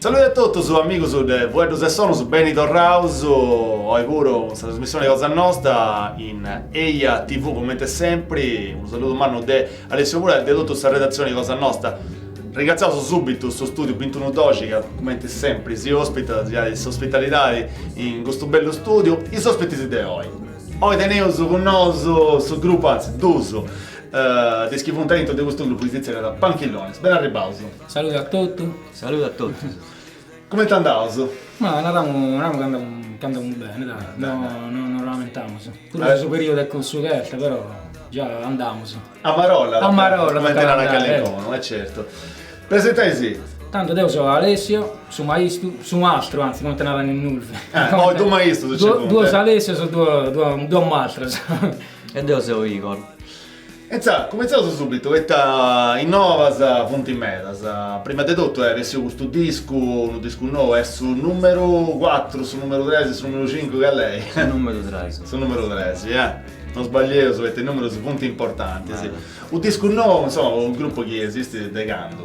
Saludi a totus amigus de Fueddus e Sonus, beni torraus oi puru in sa trasmissioni cosa nosta in eia tv coment'e sempri, unu saludu mannu de Alessio Pulai de totu sa redatzioni de Cosa Nosta. Ringratziaus subitu su Studiu Bi Doxi ca cumenti sempri si ospitat, si 'onat s'ospitalidadi in custu bellu studiu. Is ospitis de oi. Oi teneus cun nosu su grupu, anzi duus de is chi funt aintru de custu grupu chi si tzerriat Panchillones. Ben'arribaus. Saludu a totu. Saludu a totus. Comente andaus? Ma naramu naramu ca andamu ca andamu bene dai, no no nos lamentamus. Puru de su periodu est cussu ch'est però già andamus. A marolla tocat. A marolla tocat andai. Comente narat calincunu, e certu. Presentai·si. Tando deu seu Alessio, su maistu, su mastru anzi comente narat Ninnurzu. Oi duus maistus ci funt. Duos Alessios e duos duos mastros. E deu seu Igor. Intzà, cumintzaus subitu, poita is novas funt medas. Prima de totu est bessiu custu discu, unu discu nou, est su nùmeru cuatru, su nùmeru tres, su nùmeru cincu, cal'est? Su nùmeru tres. Su nùmeru tres, ja. Non sbaglieus poita is nùmerus funt importantis. U' discu nou, insoma, po unu grupu chi esistit de candu?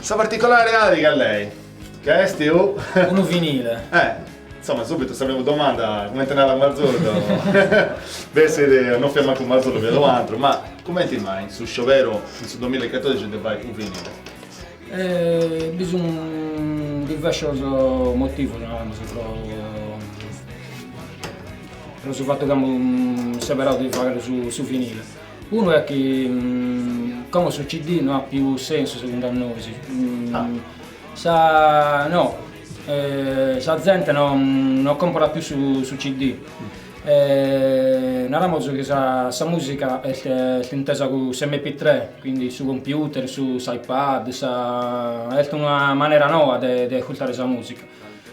Sa particolaridadi cal'est, est u. Unu vinile. Eh, insoma, subitu sa primu domanda, cumenti narat Marzullo, bessit, non fiat mancu Marzullo, fiat u antru, ma cumenti mai su scioberu, in su domilla e catordici, de fai u vinile? Eh, bi sun diversos motivos, naremus, pro pro su fatu chi amus seberau de fagher su vinile. Unu est chi como su CD no at pius sensu segundu a nois, sa no sa zente no no còmporat pius su CD e naramus chi sa sa musica est est intesa cun s'MP3 quindi su computer, su s'iPad, sa est una manera noa de de ascurtare sa musica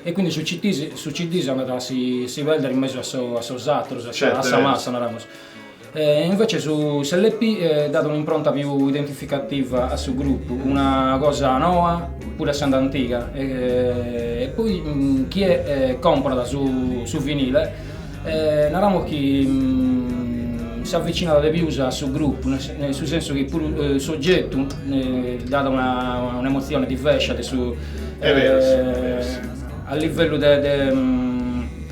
e quindi su CD si andat a si perder in mesu a sos ateros a sa massa naramus Invece su s'LP dat un'impronta piu identificativa a su grupu, una cosa noa puru essende antiga e poi chie comprat su vinile naramus chi s'avvicinat de pius a su grupu, in su sensu chi puru s'ogetu dat un'emozione divescia de su a livellu de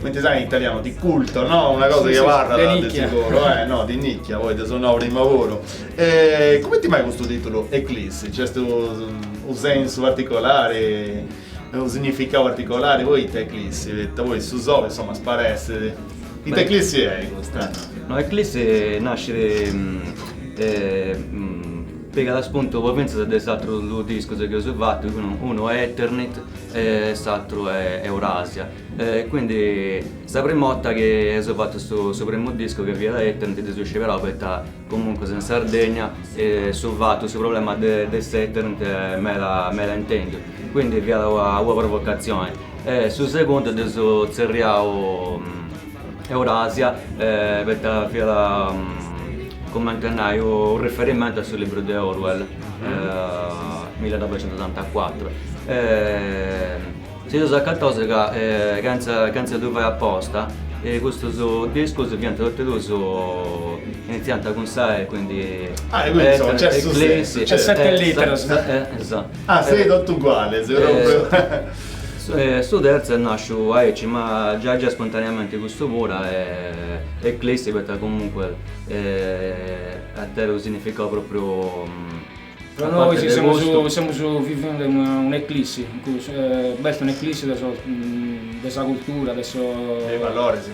Cumenti si nait in italianu, di culto, no? Una cosa chi abarrat de seguru, eh? No, di nicchia, poita ddu nau prima puru. E cumenti mai custu titulu Eclissi? Nc'est unu sensu particolari, unu significau particolari poita Eclissi? Poita poi su soli, insoma, sparessit. Ita Eclissi est custa? No, Eclissi nascit pigat spuntu po finzas de is atrus dus discus chi eus fatu, unu est Eternit e s'atru est Eurasia. E quindi sa prima 'otta chi eus fattu su su primu discu chi fiat Eternit dd'eus scioberau poita comuncus in Sardegna su fatu su problema de de s'eternit est meda meda intendiu quindi fiat una una provocazione e su segundu dd'eus tzerriau Eurasia poita fiat cumenti a nai u' riferimento a su libru de Orwell millenovecentoottantacuatro Si nd'eus acataus ca chentza ddu fai aposta e custus discus fiant totu e duus initziant cun sa e quindi eclissi su terzu est nasciu aici ma giai giai spontaneamenti custu puru eclissi poita comunque at tentu u significau propriu Pro nois semus vivende un'eclissi, b'est un'eclissi de sos de sa cultura, de sos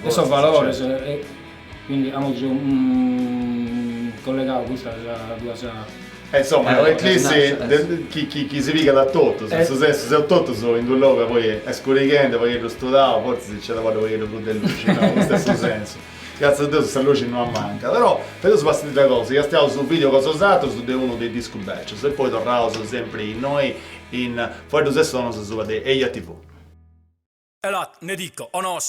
de sos valores, quindi amus collegadu custas duas. E insomma est un'eclissi chi chi chi si pigat a totus, in su sensu seus totus in cussu logu ca poi est scurighende, pagheddu studau, fortzis nci at a abarrai u' pagheddu prus de luxi, no, custu est su sensu Gratzias a Deus sa luxi no ammancat. Però fadeus custa cosa, castiaus su video cosa 'e bosatrus de unu de is discus bècius e poi torraus sempri innoi in Fueddus e Sonus asuba de Eia TV. Elat, ne dico, o nos.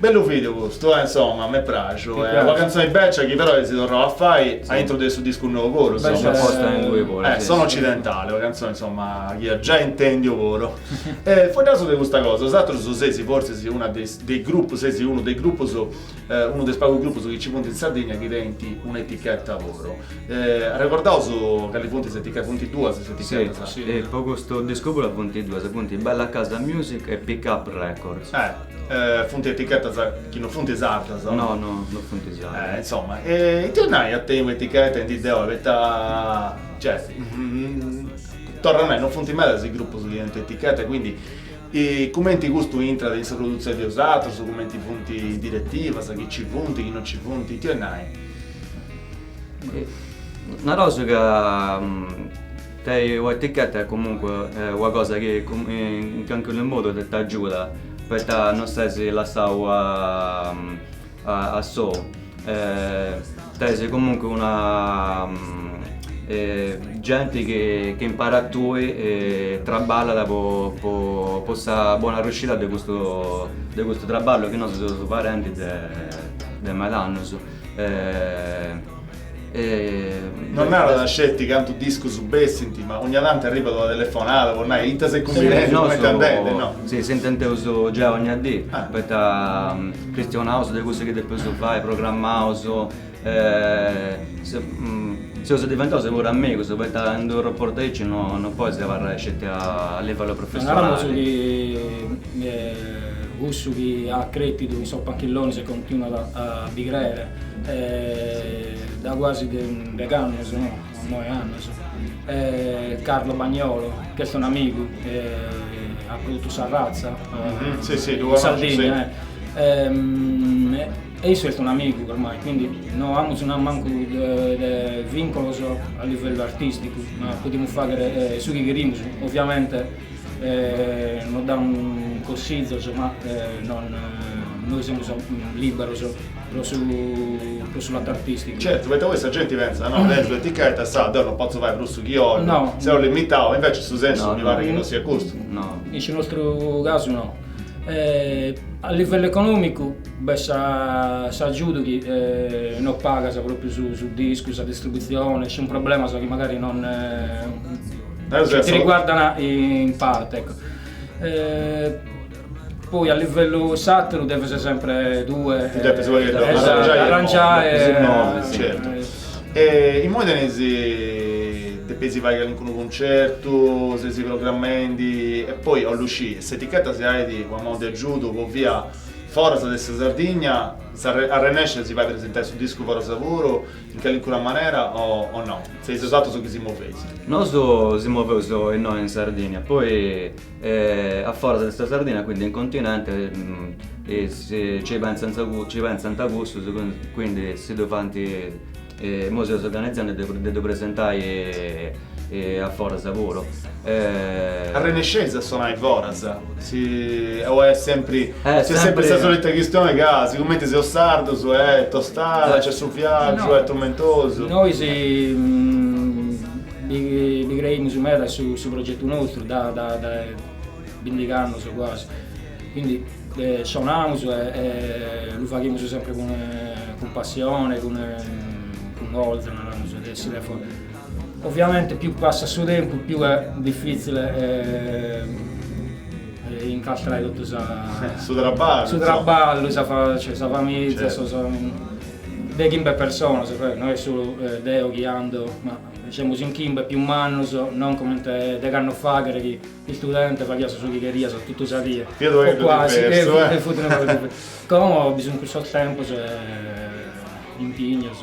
Bellu video custu eh insomma m'est praxu est una cantzone becia chi però eis torrau a fai a intro de su discu nou puru insomma eh sono occidentale una cantzone insomma chi ia giai intendiu puru e fueddaus de custa cosa bosatrus seis forsis una de is de is gruppus seis unu de is gruppus unu de is pagus gruppus chi ci funt in Sardigna chi tenint una etichetta puru arrecordaus cali funt is etichetas funt duas is etichetas po custu discu puru funt duas funt bella casa music e pick up records Funt etichetas chi non funt sardas, o no? No, no, no funt sardas. Insoma, e ita 'olit nai a tenni un'eticheta in dì de oi, poita, cioè, torru a nai, non funt medas is grupus chi tenint eticheta e quindi cumenti custu intrat in sa produtzioni de 'osatrus, cumenti funt is diretivas, chi nci funt, chi non nci funt, ita 'olit nai? Nareus ca Tenni una etichetta est comunque una cosa chi in calincunu modu t'agiudat poita non ses lassau a sou tenis comunque una genti chi impari a tui traballat po sa bona riuscida de custu traballu chi nosu seus fadendi de medas annus Non narat sceti cantu discus bessint, ma ogna tantu arribat una telefonada po nai ita seis cumbinendu, cumenti andendit, no? Nosu si, si intendeus giai ogna dì, poita chistionaus de cussu chi depeus fai, programmaus, seus diventaus puru amigus, poita in d'unu rapportu aici non podis abarrai sceti a livellu professionali. Cussu chi at crètidu in sos Punkillonis e continuat a bi crèere dae guasi deg'annos, no, noe annos, est Carlo Bagnolo, chi est un'amigu, at produtu sa ratza in Sardigna, e issu est un'amigu ormai, quindi no amus mancu de vinculos a livellu artisticu, ma podimus fàghere su chi cherimus, ovviamente Nos dat consizos, ma nois semus lìberos pro su pro su latu artìsticu. Certu, poita poi sa genti pentzat, no, tèngiu eticheta, sa, deu no potzu fai prus su chi 'ollu, No. seu limitau, invece su sensu mi parit chi no siat custu. No. In su nostru casu no. A livellu econòmicu b'est sa s'agiudu chi no pagas propriu su su discu, sa distributzione, sun problemas chi magari non Chi ti riguardan in parte, ecco. Eh, poi a livellu s'ateru deves sempre tue Ti depes poi eh, esatto, arrangiare e arrangiare, immovi, eh, certu. E immoi teneis depeis fai calincunu cuncertu, seis programmendi e poi 'ollu scì, s'etichetta si 'onat una manu de agiudu po bia foras de sa Sardigna, arrennescit a si fai presentai su discu foras puru? In calincuna manera o no. Seis 'osatrus chi si moveis. Nosu si moveus innoi in Sardinia poi a foras de sa Sardinia quindi in continente ci pensant cussus quindi si ddu faint, imoi seus organizendi de ddu presentai e a foras puru. Arrennesceis a sonai foras? Si o est sempri, tz'est sempri sa solita chistioni ca sigumenti seus sardus e tostada, nc'est su fiagiu, est trumentosu? Nois bi creimus meda a su progetu nostru da bindighi annus quasi, quindi sonaus e ddu faghimus sempri cun passioni, cun coza, nareus de essi de fora Oviamente piu passat su tempus piu est difitzile incastrare totu su traballu, su traballu, sa famìzia, de chimbe personas, no est solu deo chi andu, ma semus in chimbe piu mannus, non comente de candu faghes s'istudente faghias su chi cherias totu sa die, fiat una cosa diversa, como bi sun cussos tempus e impignos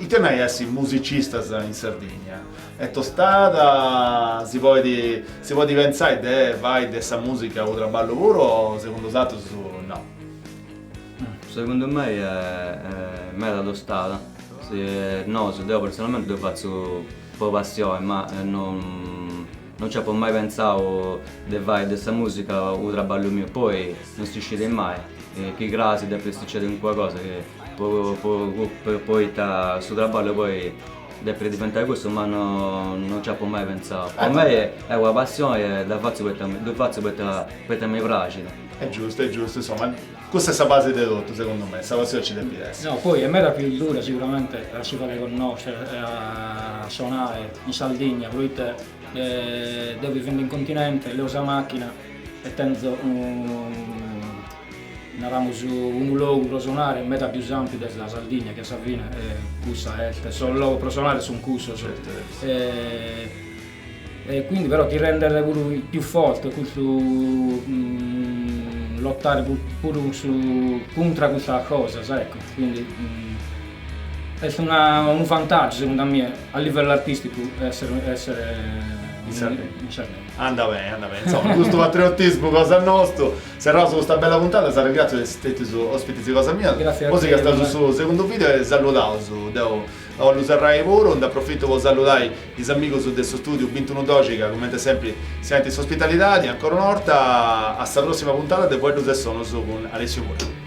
Ite nai essi musicistas in Sardigna? Est tostada si podit pentzai de fai de sa musica unu traballu puru o segundu 'osatrus no? Segundu mei est meda tostada, nosu, deu personalmenti ddu fatzu po passioni ma non No nci apo mai pentzau de fai de sa musica unu traballu miu poi no si scit mai chi crasi depit sucedi calincuna cosa poita su traballu poi depit diventai cussu ma no no nci apu mai pentzau. Po mei est una passioni e ddu fatzu poita ddu fatzu poita mi praxit. Est giustu est giustu insoma Cussa est sa base de totu, segundu mei, sa passioni ci depit essi. No, poi est meda pius dura siguramente a si fagher connoscher e a sonare in Sardigna, proite deo vivendo in continente leo sa machina e tenzo unu, naramus, unu logu pro sonare meda pius ampiu de sa Sardigna chi a sa fine cussa est, sos logos pro sonare sun cussos E quindi però ti rendet puru più forte custu lottare puru cun su cuntra custas cosas ecco quindi est una unu vantagiu segundu a mie a livello artisticu essere essere in Sardegna. Anda bene, anda bene. Insomma, custu patriottismu cosa nostu. Serraus custa bella puntata, s'arregratziu de essi stetius ospitis cosa mia. Grazie a te. Si castaus su segundu video e salludaus deu Bollu serrai puru, nd'aprofitu po salludai is amigus de su studiu Bintunu doxi ca cumenti sempri si 'onant s'ospitalidadi, ancora una 'orta a sa prossima puntada de Fueddus e sonus cun Alessiu Mura.